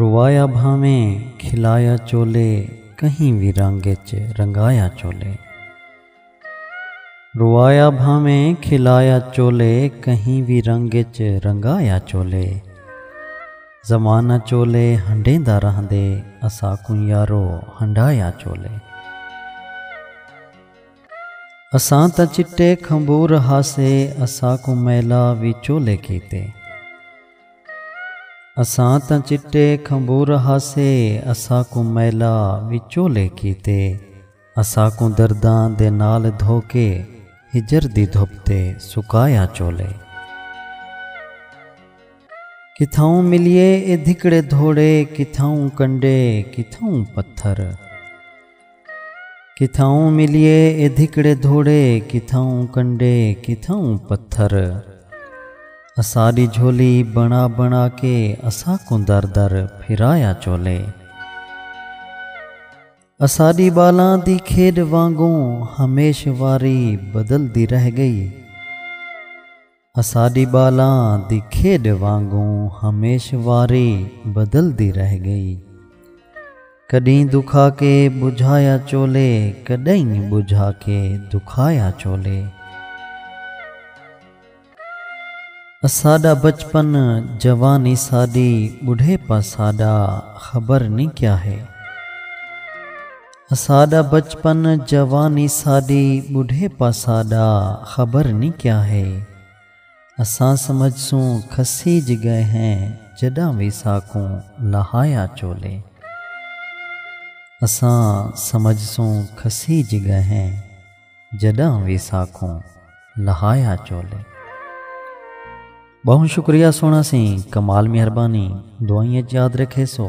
روایا بھانویں کھلایا چولے کہیں وی رنگ اچ رنگایا چولے۔ روایا بھانویں کھلایا چولے کہیں وی رنگ اچ رنگایا چولے۔ زمانہ چولے ہنڈیندا رہندے اساکوں یارو ہنڈایا چولے۔ اساں تاں چٹے کھمبور ہاسے اساکوں میلا وی چولے کیتے۔ اساں تاں چٹے کھمبور ہاسے اساکوں میلا وچولے کیتے اساکوں درداں دے نال دھوکے ہجر دی دھپ تے سکایا چولے کتھاؤں ملیے اے دھکڑے دھوڑے کتھاؤں کنڈے کتھاؤں پتھر کتھاؤں ملیے اے دھکڑے دھوڑے کتھاؤں کنڈے کتھاؤں پتھر اساڈی جھولی بنا بنا کے اساکوں در در پھرایا چولے اساڈی بالاں دی کھیڈ وانگوں ہمیش واری بدلدی رہ گئی۔ اساݙی ٻالاں دی کھیݙ وانگوں ہمیش واری بدلدی رہ ڳئی۔ کݙہیں دکھا کے ٻجھایا چولھے کݙئیں ٻجھا کے دکھایا چولھے۔ اساݙا بچپن جوانی ساݙی ٻڈھیپا ساݙا خبر نی کیا ہے۔ اساڈا بچپن جوانی ساڈی بڈھیپا ساڈا خبر نی کیا ہے اساں سمجھ سوں کھسیج گئے ہیں جڈاں وی ساکوں لہایا چولے اساں سمجھ سوں کھسیج گئے ہیں جڈاں وی ساکوں لہایا چولے۔ بہوں شکریہ سونا سیں کمال مہربانی دعائیں اچ یاد رکھیسو۔